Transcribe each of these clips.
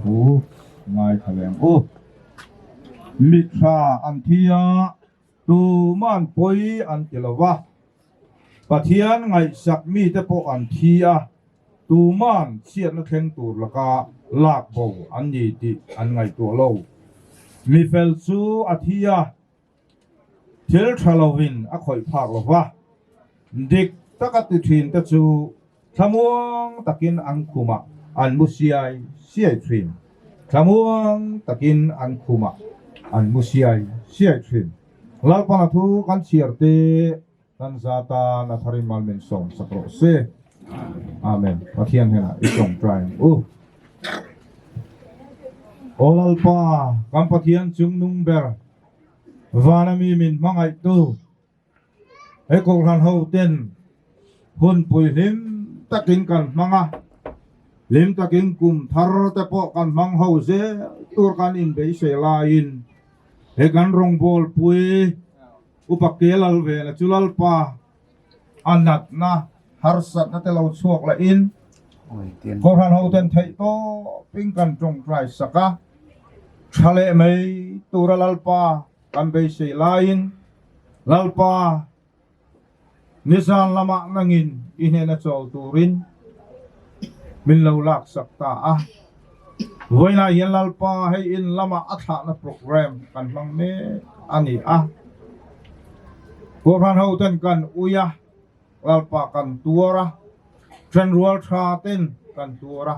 Thu ngai thaleng u. Mithra an thi a, tuman pawi an ti lo va. Pathian ngaihsak mite pawh an thi a, tuman chhiatna thleng tur laka lakbo an ni tih an ngaihtuah lo. Mi fel chu a thi a. Thil tha lovin a khawih phak lo va, dik taka ti thin te chu thlamuang takin an khumah an mu siai siai thin, thlamuang takin an khumah an mu siai siai thin. Lalpana thu kan chhiar teh. Kan za tan a tharin mal min sawm sak rawh se. Amen. Pathian hnenah i tawngtaim u. O Lalpa, kan Pathian chung nung ber, vana mi min hmangaihtu, he kohhran ho ten hun pui hlim takin kan hmang a, hlim takin kum thar te pawh kan hmang ho zel tur kan inbeihseh laiin he kan rawngbawlpui, Upa ke lal vela chu Lalpa a natna harsatna te lo chhuak la in kawhhran ho ten theih tawp in kan tawngtai sak a, tha leh mai tura Lalpa kan beisei lai in Lalpa Nizan lamah nangin i hnena chawl turin min lo laksak ta a. Vawiinah hian Lalpa hei in lamah a thlahna programme kan hmang mek a ni a. Kawhhran hoten kan ui a, Lalpa kan tuar a, then rual tha ten kan tuar a.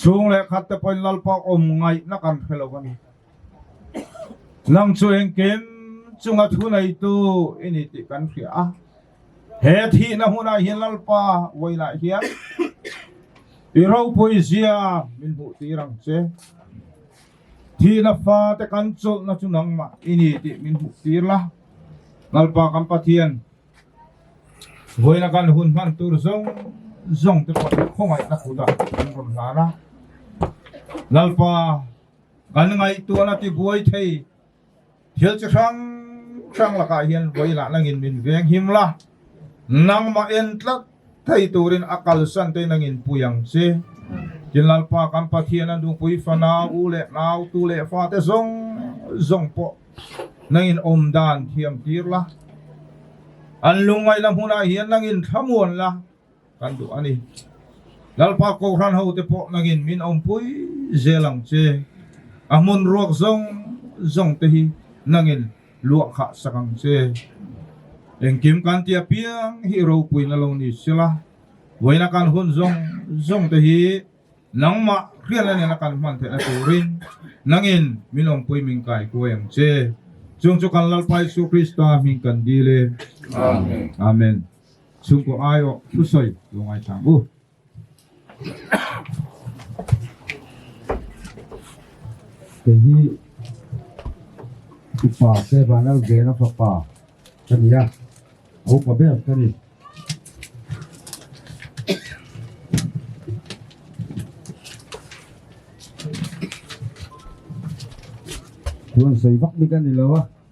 Chhung leh khatte pawhin Lalpa awm ngaihna kan hre lo a ni. Nang chu engkim chunga thu neitu i ni tih kan hria a, he thihna hmunah hian Lalpa vawilah hian i ropui zia min hmuh tir ang che. Thihna fate kan chawlhna chu nangmah i ni tih min hmuh tir la, Lalpa kan Pathian vawiina kan hun hman tur zawng zawng te pawh khawngaihna kutah kan rawn hlan a. Lalpa. Kan ngaihtuahna tibuai thei thil chi hrang hrang lakah hian vawi lahna ngin min veng him la, nangmah en tlat thei turin a kalsan tein a ngin pui ang che. Tin Lalpa kan Pathian a nupui fana u leh nau, tu leh fa te zawng zawng pawh na ngin awm dan thiam tir la, an lungngaih la hmunah hian na ngin thlamuan la, Kan duh a ni. Lalpa kohhran ho te pawh nangin min awmpui zel ang che. A hmun ruak zawng zawng te hi nangin luah khah sak ang che. Engkim kan ti apiang hi ropuina lo ni se la, vawiina kan hun zawng zawng te hi nangmah hriatna nena kan hman theihna turin nangin min awmpui min kai kuai ang che. Chung chu kan Lalpa Isu Krista hming kan dil e. Amen. Chhungkaw ai awh hru sawi lo ngai thlang u. Kei hi upa Sevanal Gena fapa ka ni a, a upa ber ka ni. Chuan sawi vak bik a ni lo a.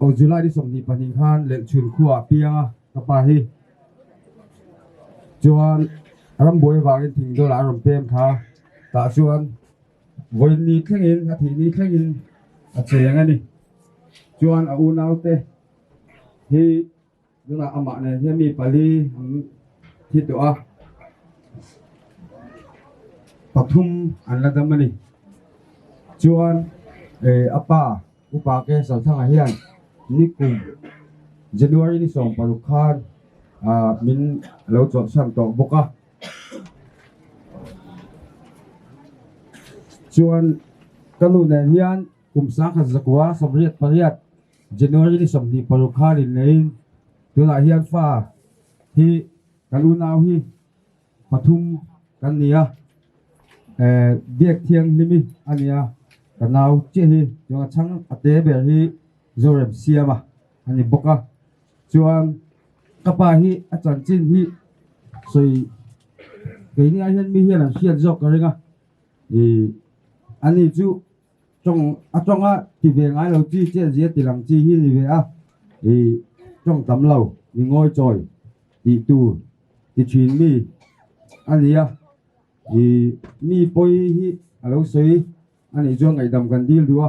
Aw July ni sawmhnih pahnih khan Lelchhun khuaa a piang a, ka pa hi chuan rambuai avangin thing dawlah a rawn pem kha, tah chuan vawiin ni thlengin a thih ni thlengin a cheng a ni. Chuan a unaute hi. Tunah amah nen hian mi pali an thi tawh a, pathum an la dam a ni. Chuan a pa U Pa Keng Salthanga hian ni kum January ni sawm paruk khan min lo chawlhsan tawh bawk a. Chuan ka nu nen hian. Kum sangkhat zakua sawmriat pariat January ni sawmhnih paruk kha rin ngeiin tunah hian fa hi kan unau hi pathum kan ni a, eh biak thianghlim i a ni a, ka nau chiah hi tunah chhang a te ber hi Zorem Siama a ni bawk a, chuan ka pa hi a chanchin hi sawi keini ah hian mi hian an hriat zawk ka ring a, ih ani chu. Chawng a chawngah ti ve ngai lo chi chiah zia ti lang chi hi ni ve a, i chawng tam lo mi ngawi chawi tih tur ti thin mi a ni a, i mi pawi hi a lo sawi a nih chuan ngaihdam kan dil duh a,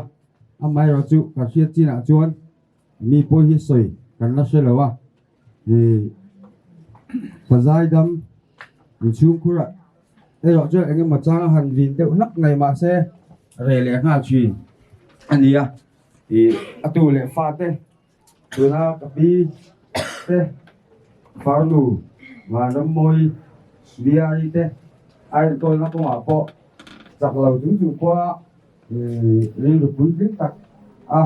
amaherawhchu ka hriat chinah chuan Mi pawh hi sawi kan la hre lo a, ih, pazai dam inchhungkhurah erawh chuan eng emaw chang a han vin deuh hlak mai mah se reh leh nghal thin a ni a, ih, a tu leh fa te, tuna ka pi te, farnu Vanrammawi Miari te a en tawlna kawngah pawh chak lo chung chung pawh a, Rilrupui hlim tak a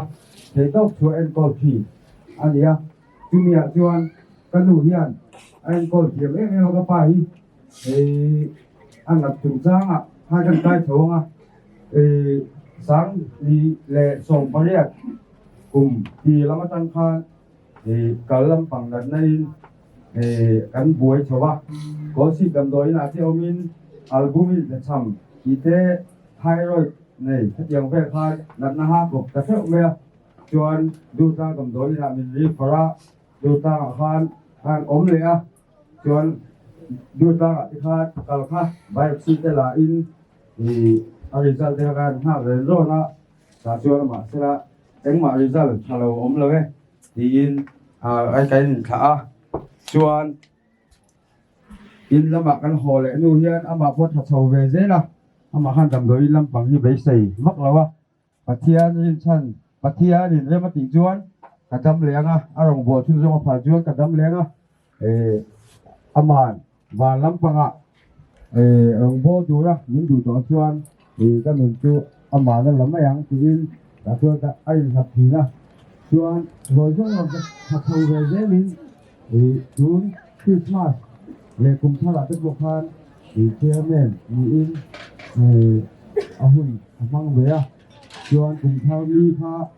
theihtawk thu a enkawl thi a ni a, chumiah chuan ka nu hian a enkawl thiam em em a, ka pa hi hei a nat chung changah kha hian kai tho ang a, Sangni leh Sawmpariat kum pi lam atang khan Kal lampang natnain kan buai chho a, Kawlsik damdawiinah te awmin albumin pe chham tih te thyroid nei hetiang vel kha natna ha kawp ta theuh mai a, chuan Duhtlâng damdawiinah min ri phar a, Duhtlângah khan khan awm leh a, chuan Duhtlângah te khan kal kha biopsy te lahin a result te kha khan nghak rênrâwn a. Tah chu a mahse a, engmah result tha lo awm lo e tiin a kan inthlah a, chuan in lamah kan haw leh nu hian amah pawh tha chho ve zel a, amah khan damdawi in lampang hi beisei vak lo a, Pathian rinchhan Pathian inrem a tih chuan ka dam leng a, a rawn buaihchhun zawng a phal chuan ka dam leng a. Amah van lampanga rawn bawl tura min duh tawh chuan ka nun chu amah la la mai ang tiin tah chuan ka a inhlap thin a. Chuan hawi zawng lam ka tha tho ve zelin tun Krismas leh kum thar ah te pawh khan Chairman niin a hun a hmang ve a. Chuan kum thar mi kha.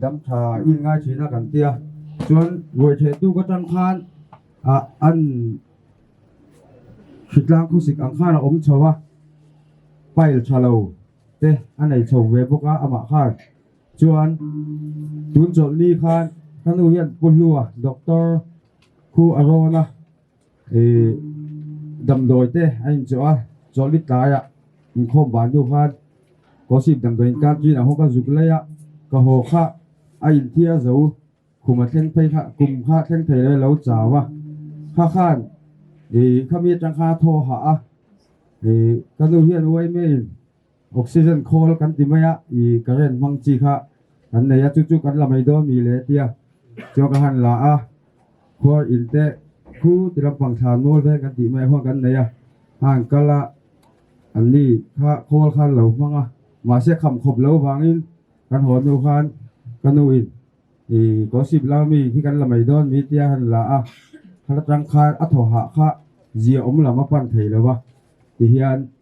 Damtha in ngai thin a kan tia chuan ruaitheh tu ka tan khan ah an hritlang khawsik ang khan a awm chho a pile tha lo te a nei chho ve bawk a amah khan chuan tun chawlh ni khan ka nu hian pu hlu a doctor khu a rawn a. Damdawite a inchawh a, chawlhbit tlaiah inkhawm vantu khan Kawsip damdawi in kar tiin a hawk a, zuk laia ka haw kha a inthiar zo, khum a thleng phei kha, kum kha thleng thei lo alo chau a, kha khan khami atang kha a thaw a hah a, ka nu hian uaimaiin. Oxygen khawl kan ti mai a, i current hmang chi kha kan nei a, chu chu kan la mai dawn mi le tia chuan ka han la a, khuar in te khu ti lampang thla nawl veng kan tih mai ah khuan kan nei a, han kal a, an ni kha khawl khan lo hmang a, mahse kham khawp lo vangin kan haw nu khan ka nu in i Kawsip lam ami hi kan la mai dawn mi tia han la a, khalatang khan a thaw hah kha zia awm lam a pan thei lo va ti hian,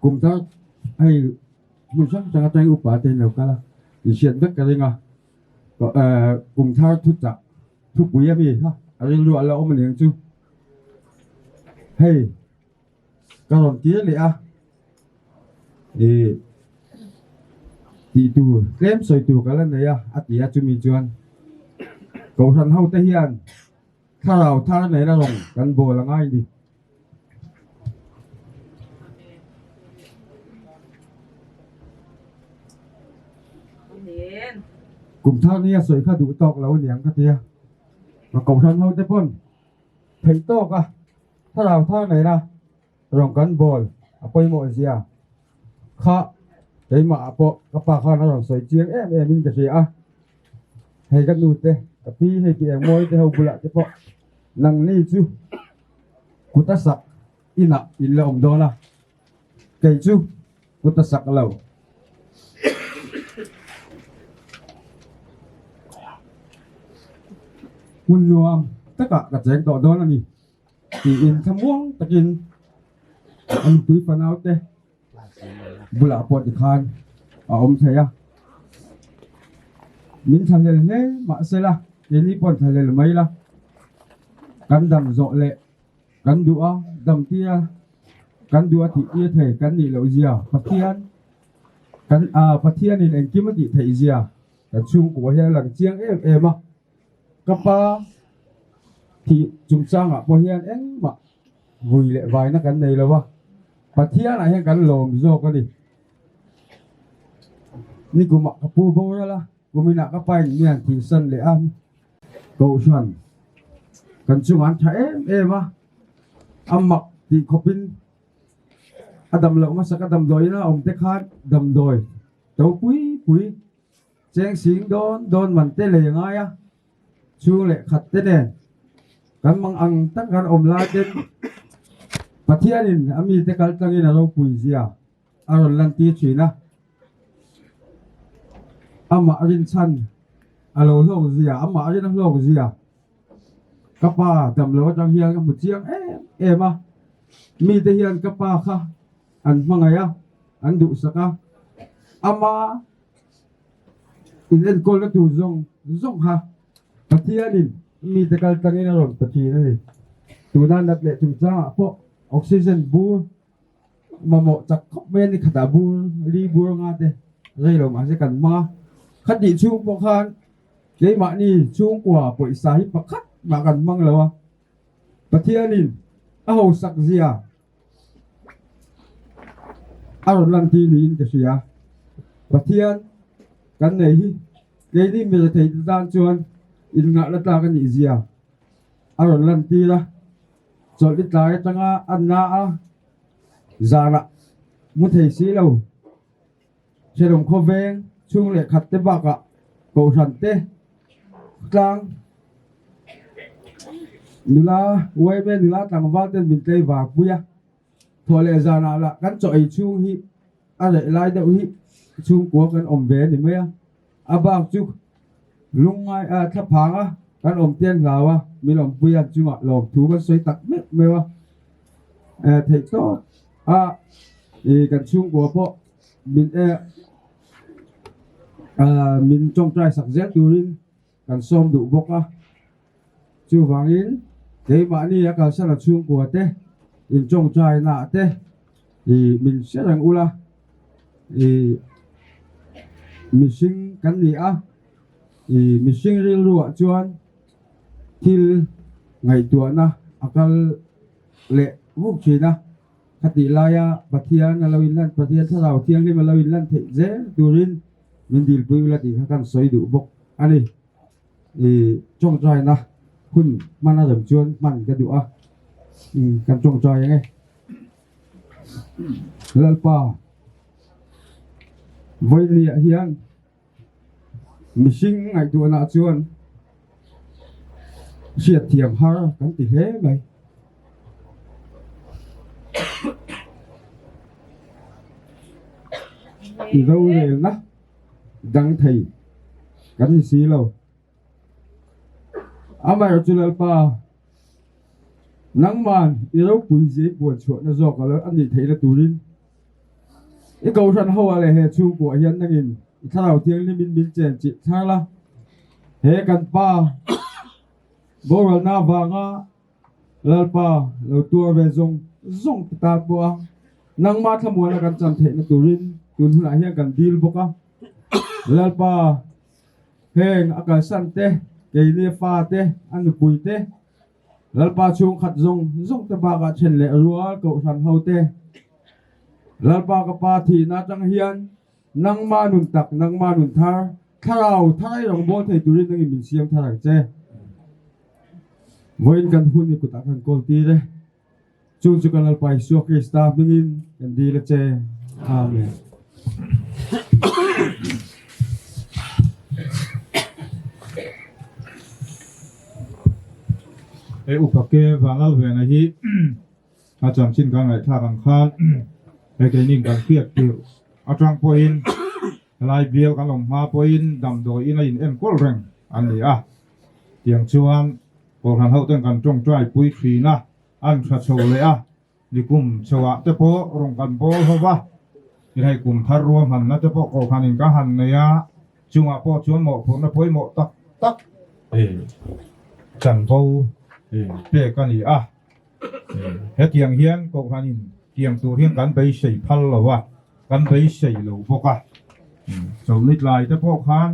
kumtak hei hmun hrang hrang atang hian upa te an lo kal a inhriat vek ka ring a ehh kum thar thu chah thu pui ami kha a rilruah ala awm aniang chu hei ka rawn tir leh a ih tih tur tlem sawi tur ka la nei a a ti a chumi chuan Kohhran ho te hian thlarau thar nena rawn kan bawl anga ini. Kum thar ni a sawi kha duh tawk lo aniang ka tia ka kohhran ho te pawn theih tawk a thlarau thar nei la rawn kan bawl a pawimawh zia. Kha keimah ah pawh ka pa khan a rawn sawi chiang em em in ka hria a, hei ka nu te ka pi hei ti engmawi te ho bulah te pawh nang ni chu kuta sak inah in la awm dawn a, kei chu kuta sak lo. Hmun nuam takah ka cheng tawh dawn a ni. tiin thlamuang takin an pui fanau te bulah pawh ti khan a awm thei a min thla lel hle mahse la keini pawh an thla lel mai la kan dam zawh leh kan duh a dam tia kan duh a tih tir thei kan nih loh zia pathian kan ah pathianin engkim a tih theih zia kan chhungkua hian a lang chiang em em a. Ka pa thih chungchangah pawh hian engmah vui leh vaina kan nei lo a, Pathianah hian kan lawm zawk a ni. Nikumah ka pu bo ralh a, kuminah ka pa in mian tihsan leh a, kohhran kan chungah an tha em em a, a mak tih khawpin a damloh hmasa ka damdawiin a awmte khan damdawi topui pui Cheng sing dawn dawn man te leh ngai a chhung leh khat te nen kan mang ang taka kan awm lai ten Pathianin a mite kal tlangin a ropui zia a rawn lantir thin a, amah rinchhan a lo hlawk zia amah rin a hlawk zia ka pa damlo atang hian ka hmu chiang em em a, mite hian ka pa kha an hmangaih a an duhsak a ama-- In enkawlna tur zawng zawng kha Pathianin mite kal tlangin a rawn pe thin a ni. Tuna nat leh chungchangah pawh oxygen bur mamawh chak khawp mai a ni. Khatah bur li bur anga te rei lo mahse kan hmang a. Khatih chhung pawh khan keimahni chhungkua pawisa hi pakhat mah kan hmang lo a. Pathianin a hausak zia. a rawn lang chi niin ka hria pathian kan nei hi keini mi rethei te tan chuan in ngah la tlak anih zia a rawn lan tir a chawlh i tlai atanga a na a zan ah mu thei si lo. Cherung khawveng chhung leh khat te bakah Kohhran te, Tlang nula, Uaime nula tlangval ten min tlei vang pui a. Thaw leh zanah lah kan chaw ei chhung hi a reh lai deuh hi chhungkua kan awm ve a ni mai a. A bak chu lungngai ah thla phang a kan awm tial hlau a mi lawmpui an chungah lawm thu kan sawi tak meuh meuh a eh theih tawp a ih kan chhungkua pawh min eh ah min tawngtai sak zel turin kan sawm duh bawk a. Chuvangin, keimahni a kalsara chhungkua te, inchawngchaina te i min hre reng ula, i mihring kan ni a, i mihring rilruah chuan thil ngaihtuahna a kal leh vuk thin a, khatih laia Pathian a lo inlan, Pathian Thlarau Thianghlim a lo inlan theih zel turin min dilpui ula tih kha kan sawi duh bawk a ni. I tawngtai na hun hman a rem chuan hman ka duh a, i kan tawngtai ang e. Lalpa, vawinia hian mihring ngaihtuahna chuan hriatthiam har kan ti hle mai. I rorelna. dang thei kan ni si lo. Amaherawh chu Lalpa, nangman i ropui zia i puan chhuahna zawk a a nih theihna turin i kohhran hoa leh he chhungkua hian nangin i Thlarau Thianghlim in min chen chih thar la. He kan Pa, borualna vanga, Lalpa, lo tuar ve zawng zawng ka tat bawk a, nangma thlamualna kan chan theihna turin tun hunah hian kan dil bawk a, Lalpa, heng a kalsan te, keinia fa te, a nupui te, Lalpa chhungkhat zawng zawng te bakah then leh rual kohhran ho te, Lalpa ka pa thihna atang hian, Nangma nun tak, nangma nun thar, Thlarau tharai rang bawl thei turin nangin min siam thar ang che. Vawiin kan hun hi kutah kan kawl tir e. Chung chu ka Lalpa Isua Krista hmingin kan dil a che. Amen. He upa ke Vangal vena hi A chanchin ka ngaihthlak ang khan he keini kan hriat tirh atang pawhin helai bial kan awm hma pawhin damdawiin a in enkawl reng an ni a. Tiang chuan kawlhran ho ten kan tawngtai pui thin a, an tha chho leh a, ni kum chhoah te pawh rung kan bawl ho va, i hei kum thar rua hmanna te pawh kawlhranin ka han nei a, chungah pawh chuan mawhphurhna pawimawh tak tak chanvo pek a ni a. Hetiang hian Kohhranin tiang tur hian kan beisei phal lo a, kan beisei lo bawk a. Chawlhnitlai te pawh khan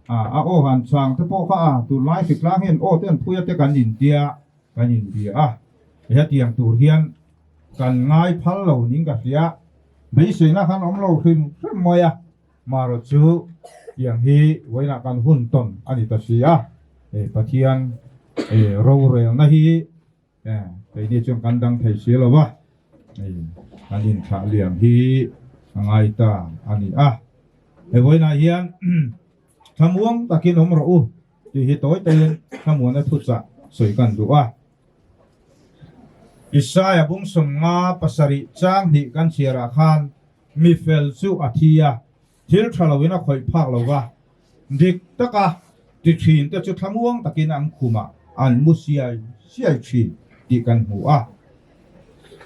a aw han chang te pawh kha a, tunlai hrik tlang hian aw te an phui a te kan intia kan inbia a. Hetiang tur hian kan ngai phal lo ning ka hria, beiseina khan awm lo hrim hrim mai a. Mara chu tiang hi vawiinah kan hun tawn a ni ta si a, hei Pathian hei rorelna hi keini chuan kan dang thei si lo va, hei kan inchhahliam hi a ngai ta a ni a. Hei vawiinah hian thlamuang takin awm rawh u. tih hi tawi tawin hnamuahna thuchah sawi kan duh a. Isaiah bumsawm nga pasarih chang hnih kan chhiarah khan mi fel chu a thi a, thil tha loin a khawih phak lo va, dik taka tithin te chu thlamuang takin an khumah an mu siai siai thin tih kan hmu a.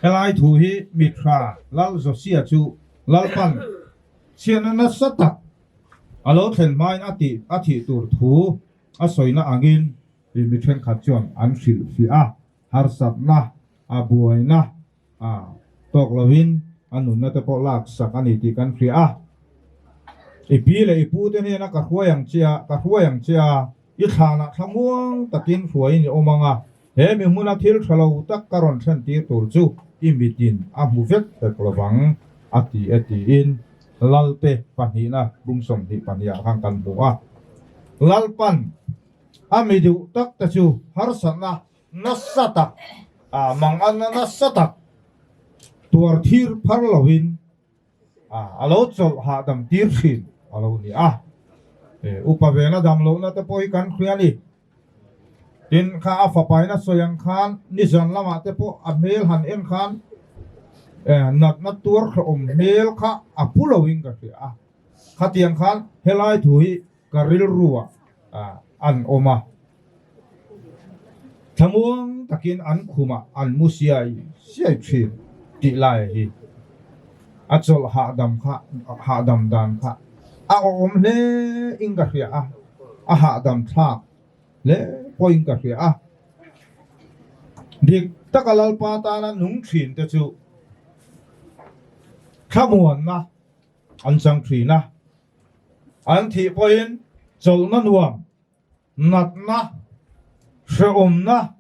Helai thu hi mithra lal Josiah chu lalpan chhiarna nasa tak A lo thlen hmain a tih a thih tur thu a sawina angin ih mi thenkhat chuan an hrilh fiah a, harsatna, a buaina a tawk lovin a nunna te pawh lak sak a ni tih kan hria a. I pi leh i pute hnena ka hruai ang che a, ka hruai ang che a. I thlanah thla muang takin hruaiin i awm ang a, he mihmuna thil tha lo tak ka rawn thlentir tur chu i mitin a hmu vek vek lo vang a ti e tiin Lalte pahnihna bum sawmhnih pahniha khan kan hmu a. Lalpan a mi duh takte chu harsatna nasa tak, mangalna nasa tak tuar thir phar loin A lo chawlh hahdam tir thin a lo ni a, upa vela dang lohna te pawh hi kan hria a ni. Tin, kha a fapaina sawi ang khan nizan lamah te pawh a hmel han en khan natna tuar hlauhawm hmel kha a pu loin ka hria a. Khatiang khan helai thu hi, Ka rilruah an awm a, thlamuang takin an khumah an mu siai siai thin tih laia hi a chawlh hahdam kha, hahdam dan kha a awm hle in ka hria a, a hahdam thlak hle pawhin ka hria a. Dik taka Lalpa tana nung thin te chu thlamuanna an chang thin a. An thih pawhin chawlhna nuam, natna, hrehawmna,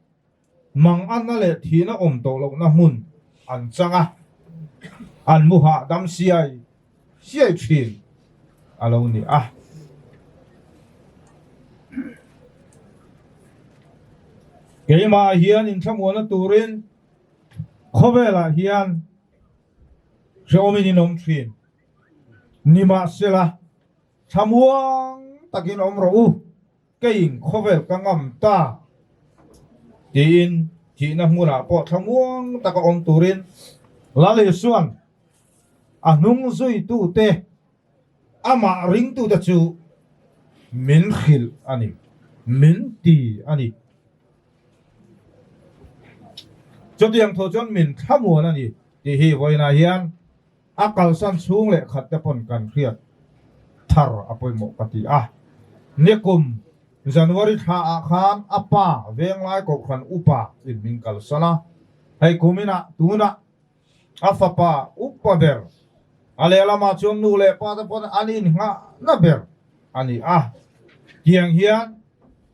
mang anna leh thihna awm tawh lohna hmun an chang a, an mu hahdam siai siai thin a lo ni a. Keimah hian inthlanmuana turin khawvelah hian hrehawmin in awm thin. Ni mah sela, thlamuang takin awm rawh u, keiin khawvel ka ngam ta, tiin thihna hmunah pawh thlamuang taka awm turin Lalisawn a hnung zuitute, amah ringtute chu min hrilh a ni, min ti a ni. Chutiang tho chuan min thlamual a ni tih hi vawiinah hian. A kalsan chhung leh khat te pawn kan hriat thar a pawimawh ka ti a. Ni kum, January thla ah khan a pa Venglai Kohhran Upa in min kalsan a. Hei kum in ah tunah a fapa upa ber, a lehlam ah chuan nu leh pa te pawn an in nghahna ber a ni a. Tiang hian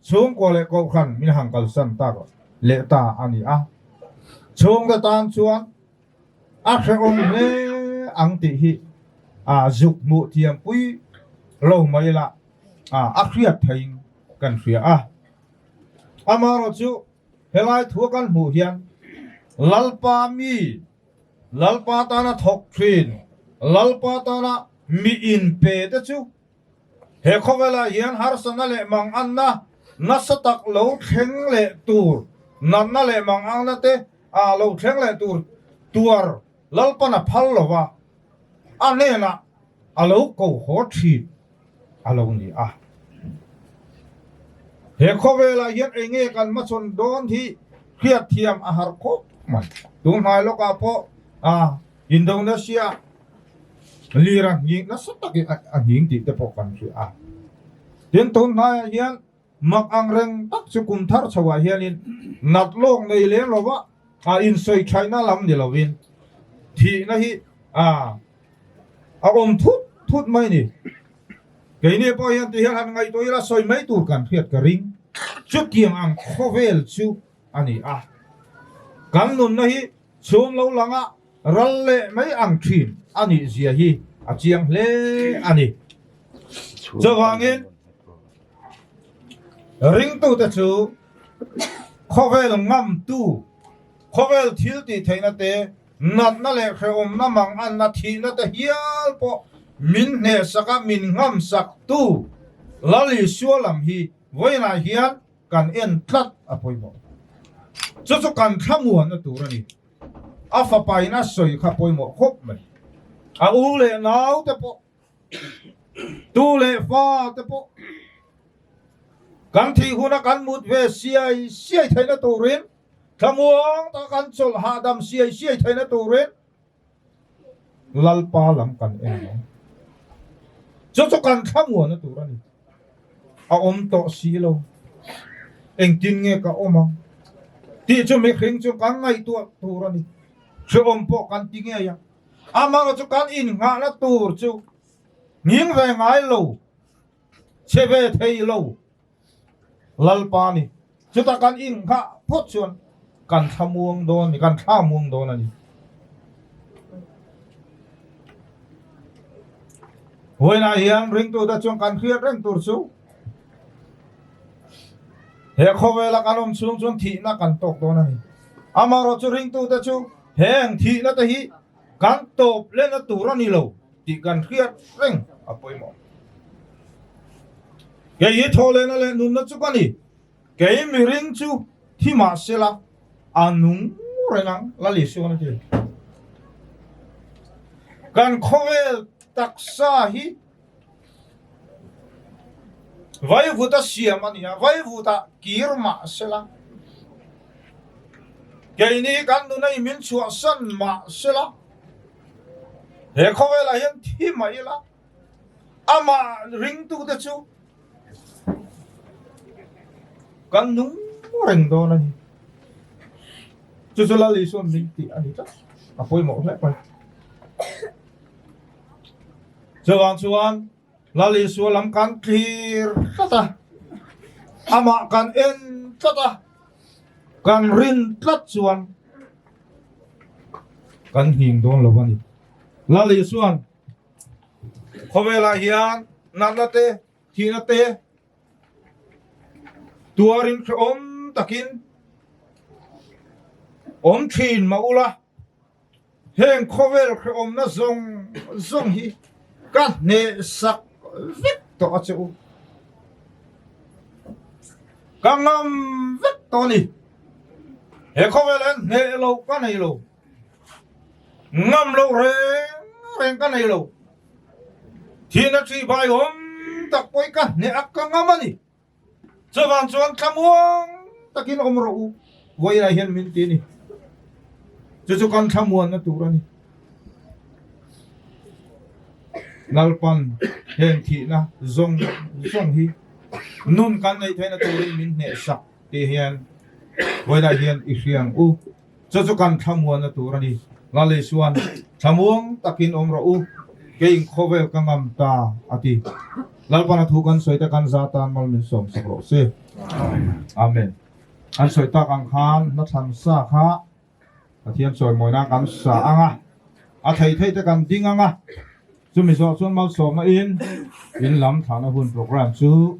chhungkua leh kohhran min han kalsan tak leh ta a ni a. Chhungte tan chuan. A hrehawm hle ang tih hi zuk hmuh thiam pui lo mai lah a hriat theihin kan hria a. Amaherawhchu chu helai thu a kan hmuh hian Lalpa mi, Lalpa tana thawk thin, Lalpa tana miin pe te chu, He khawvelah hian harsatna leh manganna nasa tak lo thleng leh tur, natna leh manganna te ah lo thleng leh tur tuar Lalpan a phal lo a, a hnenah a lo ko haw thin a lo ni a. He khawvelah hian ei nge kan hmasawn dawn hi hriatthiam a harh khawp mai. Tunhnai lawkah pawh a. Indonesia lira nghik nasa takin a nghing tih te pawh kan hria a. Tin, tunhnaiah hian mak ang reng tak chu kum thar chhoah hianin nat lawk nei lem lova a insawi thaihna lam ni lovin thihna hi a awm thut thut mai ni. Keini pawh hian tihian han ngaihtuah ila sawi mai tur kan hriat ka ring. Chutiang ang khawvel chu a ni a. Kan nunna hi chhum lo langah ral leh mai ang thin a nih zia hi a chiang hle a ni. Chuvangin, ringtute chu khawvel ngamtu, khawvel thil tih theihna te, natna leh hrehawmna mang anna thihna te hial pawh min hnehsak a, min ngamsak tu Lal Isua lam hi vawiinah hian, kan en tlat a pawimawh ta. Chu chu kan thlamuanna tur a ni. A fapaina sawi kha pawimawh khawp mai. A u leh nau te pawh, tu leh fa te pawh kan thih huna kan mut ve siai siai theihna turin, thlamuang taka kan chawlh hahdam siai siai theihna turin, Lalpa lam kan en ang. Chu chu kan thla muan na tur a ni. A awm tawh si lo. Engtin nge ka awm ang? Tih chu mihring chu kan ngaihtuah tur a ni. Hreawm pawh kan ti ngei ang. Amaherawh chu kan innghahna tur chu nging ve ngai lo, che ve thei lo Lalpa a ni. Chutah kan inngah phawt chuan kan thla muang dawn a ni, kan thla muang dawn a ni. Huainah hian ringtute chuan kan hriat reng tur chu he khawvela kan awm chhung chuan thihna kan tawk dawn a ni. Amaherawhchu ringtute chu heng thihnate hi. Kan tawp len a tur a ni lo tih kan hriat reng a pawimawh. Kei hi thawhlehna leh nunna chu ka ni. Kei mi ring chu thi mah se la a nung reng ang, Lal Isuan a ti. Kan khawvel taksa hi. Vaivuta siam a nia, vaivuta kir mah sela, keini hi kan nuna i min chhuahsan mah sela, he khawvelah hian thi mah ila, amah ringtute chu kan nung reng dawn a ni. Chu chu Lal Isuan min tih a ni tlat, a pawimawh hlek mai. chuvang chuan lali sual lam kan tlir tlat a amah kan en tlat a kan rin tlat chuan kan nghim dawn lo a ni lali chuan khawvelah hian natna te thihna te tuarin hrehawm takin awm thin mah ula Heng khawvel hrehawmna zawng zawng hi ka hnehsak vek tawh a che u. Ka ngam vek tawh a ni. He khawvel hian hneh lo ka nei lo. Ngam lo reng reng ka nei lo. Thina thi baiawm tak pawh hi ka hneh a ka ngam a ni. Chuvang chuan thlamuang takin awm rawh u, vawiinah hian min ti a ni. Chu chu kan thlamuanna tur a ni. Lalpan heng thihna zawng zawng hi nun kan neih theihna turin min hnehsak tih hian vawilah hian i hriang u. Chu chu kan thlamuanna tur a ni. Lale chuan, Thlamuang takin awm rawh u, keiin khawvel ka ngam ta, a ti. Lalpana thu kan sawi te kan za tan mal min sawmsak rawh se. Amen. An sawi tak ang khan hnathlan sa kha Pathian chawimawina kan sa ang a, a thei theite kan ding ang a. Chumi zawh chuan malsawmna in in lam thlahna hun programme chu.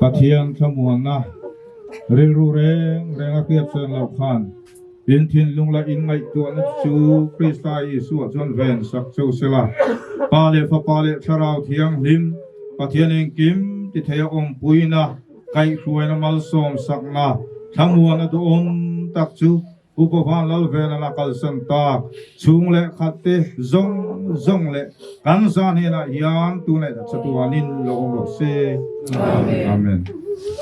Pathian thlamuanna rilru reng renga hriatsawn loh khan in thinlung leh in ngaihtuahna chu Krista Isua chuan ven sak cheu se la. Pa leh Fapa leh Thlarau thianghlim Pathian engkim tithei a awmpuina, Kaihhruaina malsawm sakna thlamuan a duh awm tak chu Upa Van Lalvela a kalsan ta. Chhung leh khat te zawng zawng leh kan zan hnenah hian tunei a chatuanin lo awm rawh se. Amen.